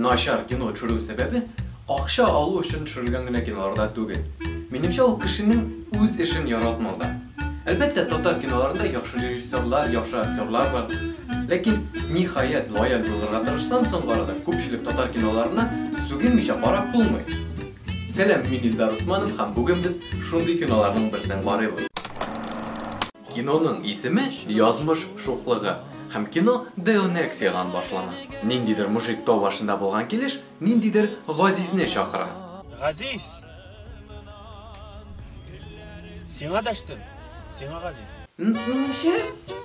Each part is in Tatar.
Начар кино төшерү сәбәбе акча алу өчен төшерелгән генә киноларда түгел. Минемчә, ул кешенең үз эшен яратмауда. Әлбәттә, татар киноларында яхшы режиссерлар, яхшы актерлар бар. Ләкин, ниһаять, лояль булырга тырышсам, соңгы арада күпчелек татар киноларына сүгенмичә карап булмый. Сәлам, мин Илдар Усманов һәм бүген без шундый киноларның берсен карыйбыз. Киноның исеме Язмыш шуклыгы һәм кино Деонексиядән башлана. Ниндидер мужик тау башында булган килеш Ниндидер Газизне чакыра. Газиз! Сиңа дәштем, сиңа газиз. Минемчә,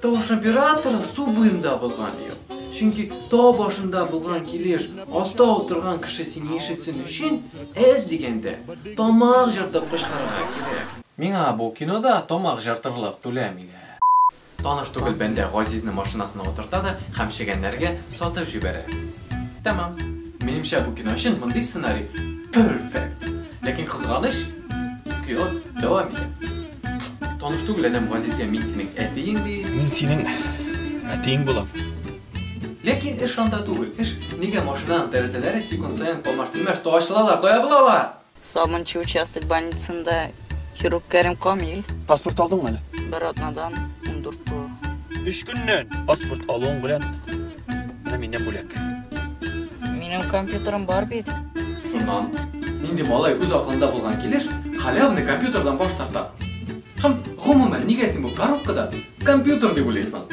тавыш операторы су буенда булган ел. Чөнки тау башында булган килеш аста утырган кеше сине ишетсен өчен, әз дигәндә, тамак җыртып кычкырырга кирәк. Миңа бу кинода тамак җыртырлык түләмиләр. Таныш түгел бәндә Газизне машинасына утырта да һәм чегәннәргә сатып җибәрә. Тәмам. Минемчә бу кино өчен мондый сценарий перфект. Ләкин кызганыч, кино дәвам итә. Таныш түгел адәм Газизгә мин синең әтиең ди. Мин синең әтиең булам. Ләкин эш анда түгел. Эш нигә машинаның тәрәзәләре секунд саен алмаш-тилмәш то ачылалар, то ябылалар? Сабынчы участок больницасында хирург Кәрим Камил. Паспорт алдыңмы әле? Бер атнадан 14 тулы. Өч көннән паспорт алуың белән менә миннән бүләк. Минем компьютерым бар бит. Шуннан нинди малай үз акылында булган килеш халявный компьютердан баш тарта? Һәм, гомумән, нигә син бу коробкада компьютер дип уйлыйсың?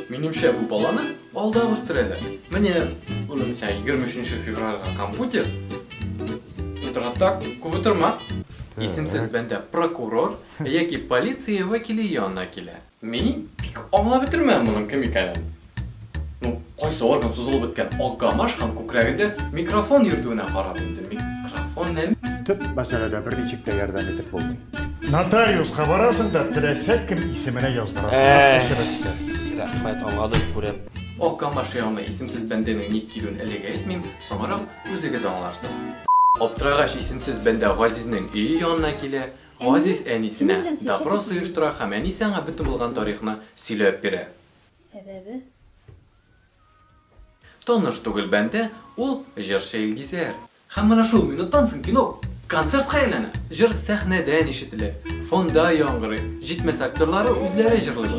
Минемчә, бу баланы алдап үстерәләр. Менә, улым, сиңа егерме өченче февральгә компьютер. Утыракта күп утырма. Исемсез бәндә прокурор яки полиция вәкиле янына килә. Мин бик аңлап бетермәдем моның кем икәнен. Ну, кайсы орган сузылып беткән Акгамаш һәм күкрәгендә микрофон йөртүенә карап инде, микрофон нәм... Төп мәсьәләдә берничек тә ярдәм итеп булмый. Нотариуска барасың да, теләсә кем исеменә яздырасың. Рәхмәт, аңладык, күрәм. Акгамаш янына исемсез бәндәнең ник килүен әлегә әйтмим, соңрак Үзегез аңларсыз. Аптырагач исемсез бәндә Газизнең өе янына килә. Газиз әнисенә допрос оештыра һәм әнисе аңа бөтен булган тарихны сөйләп бирә. Сәбәбе? Таныш түгел бәндә, ул, җырчы Илгизәр. Һәм менә шул минуттан соң кино. Концертка әйләнә. Җыр сәхнәдән ишетелә, фонда яңгырый, җитмәсә актерлары үзләре җырлый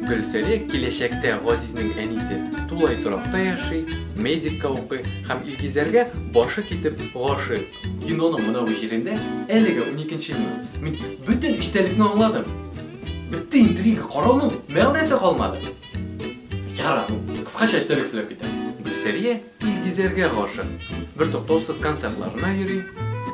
Гөлсәрия киләчәктә Газизнең әнисе тулай торакта яши, медикка укый һәм Илгизәргә башы китеп гашыйк. Киноның монау җирендә әлегә уникенче минут. Мин бөтен эчтәлекне аңладым. Бетте интрига, карауның мәгънәсе калмады. Ярар, кыскача эчтәлек сөйләп китә. Гөлсәрия Илгизәргә гашык. Бер туктаусыз концертларына йөри.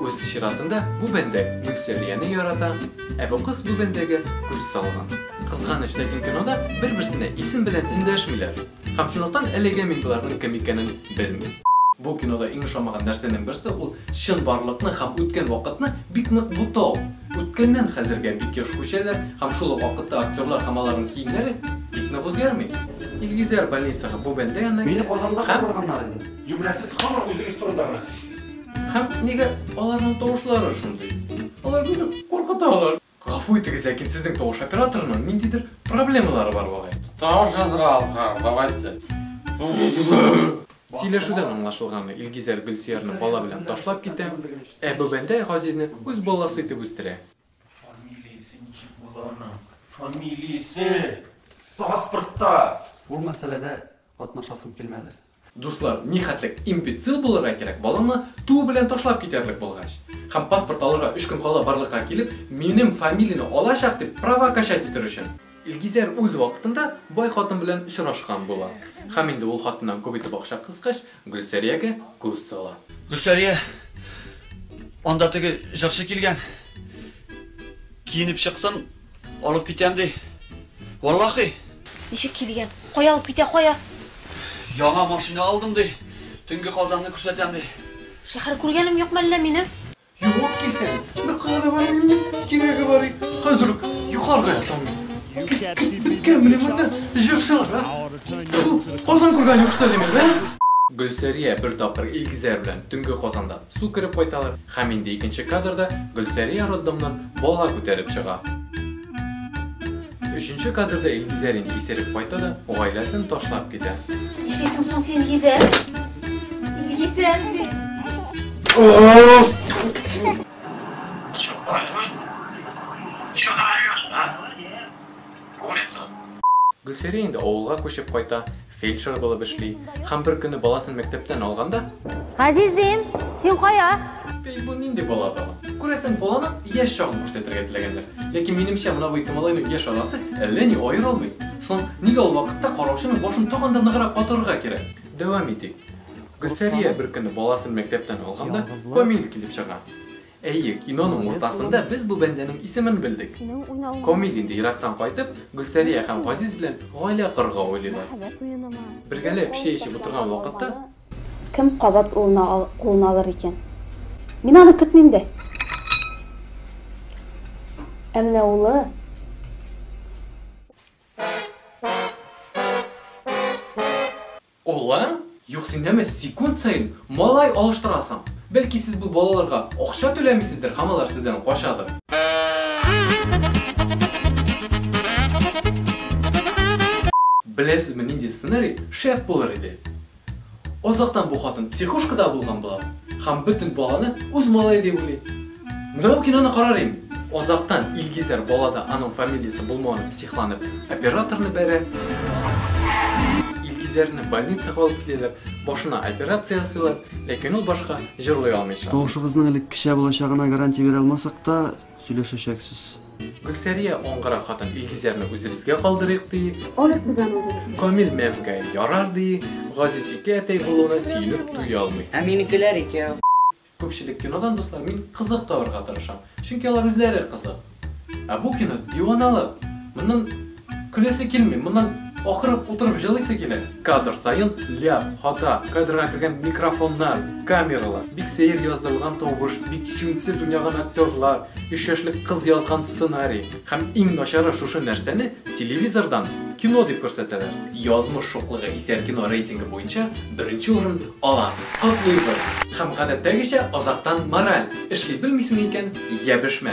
Үз чиратында бу бәндә Гөлсәрияне ярата, ә бу кыз бу бәндәгә күз салган. Кызганыч, ләкин кинода бер-берсенә исем белән эндәшмиләр. Һәм шунлыктан әлегә мин боларның кем икәнен белмим. Бу кинода иң ошамаган нәрсәнең берсе ул чынбарлыкны һәм үткән вакытны бик нык бутау. Үткәннән хәзергә бик еш күчәләр һәм шул ук вакытта актерлар һәм аларның киемнәре бик нык үзгәрми. Илгизәр больницага бу бәндә янына Мине Казанда һәм... калдырганнар инде. Юнә, сез һаман үзегез турында гына сөйлисез. Һәм нигә аларның тавышлары шундый? Алар мине куркыталар. Гафу итегез, ләкин сезнең тавыш операторының ниндидер проблемалары бар бугай. Тавыш азрак азгар, давайте. Сөйләшүдән аңлашылганы, Илгизәр Гөлсөярне бала белән ташлап китә, ә Бүбәндәй Газизне үз баласы итеп үстерә. Фамилиясе ничек була аның? Фамилиясе! Паспортта! Бу мәсьәләдә катнашасым килмәде. Дуслар, нихәтлек имбецил булырга кирәк, баланы туу белән ташлап китәрлек булгач, һәм паспорт алырга өч көн кала барлыкка килеп, минем фамилияне алачак дип права качать итер өчен! Илгизәр үз вакытында бай хатын белән очрашкан була һәм инде ул хатыннан күп итеп акча кыскач, Гөлсәриягә күз сала. Гөлсәрия, анда теге җырчы килгән, киенеп чыксын, алып китәм ди. Валлахи! Ничек килгән? Кая алып китә, кая? Яңа машина алдым ди, төнге Казанны күрсәтәм ди. Шәһәр күргәнем юк мәллә минем? Юып кисән, бер калада бар инде, кирәге бар ик, хәзер үк югарыга ятам. Беткән менә монда җырчылар, а? Тьфу, Казан күргән юк, что ли, мин, ә? Гөлсәрия бер тапкыр Илгизәр белән төнге Казанда су кереп кайталар һәм инде икенче кадрда Гөлсәрия роддомнан бала күтәреп чыга. Өченче кадрда Илгизәр инде исереп кайта да, гаиләсен ташлап китә. Нишлисең соң син, Илгизәр? Илгизәр ди. Гөлсәрия инде авылга күчеп кайта Фельдшер булып эшли. Һәм бер көне баласын мәктәптән алганда. Газиз дим, син кая? Әй, бу нинди бала тагын? Күрәсең, баланың яшь чагын күрсәтергә теләгәннәр. Ләкин, минемчә, менә бу ике малайның яшь арасы әллә ни аерылмый. Соң, нигә ул вакытта караучының башын тагын да ныграк катырырга кирәк? Дәвам итик. Гөлсәрия бер көне баласын мәктәптән алганда, Камил килеп чыга. Әйе, киноның уртасында без бу бәндәнең исемен белдек. Камил инде ерактан кайтып, Гөлсәрия һәм Газиз белән гаилә корырга уйлыйлар. Бергәләп чәй эчеп утырган вакытта Кем кабат улына ал, кулына алыр икән? Мин аны көтмим дә. Ә менә улы Олан, Юк, син дәме секунд саен малай алыштырасың. Бәлки сез бу балаларга акча түләмисездер һәм алар сездән качадыр. Беләсезме нинди сценарий шәп булыр иде? Азактан бу хатын психушкада булган була һәм бөтен баланы үз малае дип уйлый. Менә бу киноны карар идем. Озактан Илгизәр балада аның фамилиясе булмавын психланып операторны бәрә. Илгизәрне больницага алып киләләр, башына операция ясыйлар, ләкин ул башка җырлый алмый чыга. Тавышыгызның элеккечә булачагына гарантия бирә алмасак та, сөйләшәчәксез. Гөлсәрия аңгыра хатын Илгизәрне үзебезгә калдырыйк ди. Алыйк без аны үзебезгә. Камил мәмгә ярар ди. Газиз ике әтәй булуына сөенеп туя алмый. Ә минекеләр икәү. Күпчелек кинодан, дуслар, мин кызык табарга тырышам, чөнки алар үзләре кызык. Ә бу кино, диваналык! Моннан көләсе килми, моннан акырып утырып җылыйсы килә. Кадр саен ляп, хата, кадрга кергән микрофоннар, камералар, бик сәер яздырылган тавыш, бик җүнсез уйнаган актерлар, өч яшьлек кыз язган сценарий. Һәм иң начары, шушы нәрсәне телевизордан кино дип күрсәтәләр. Язмыш шуклыгы исәр кино рейтингы буенча беренче урын Ала. Котлыйбыз! Һәм гадәттәгечә азактан мораль, эшли белмисең икән, йәбешмә!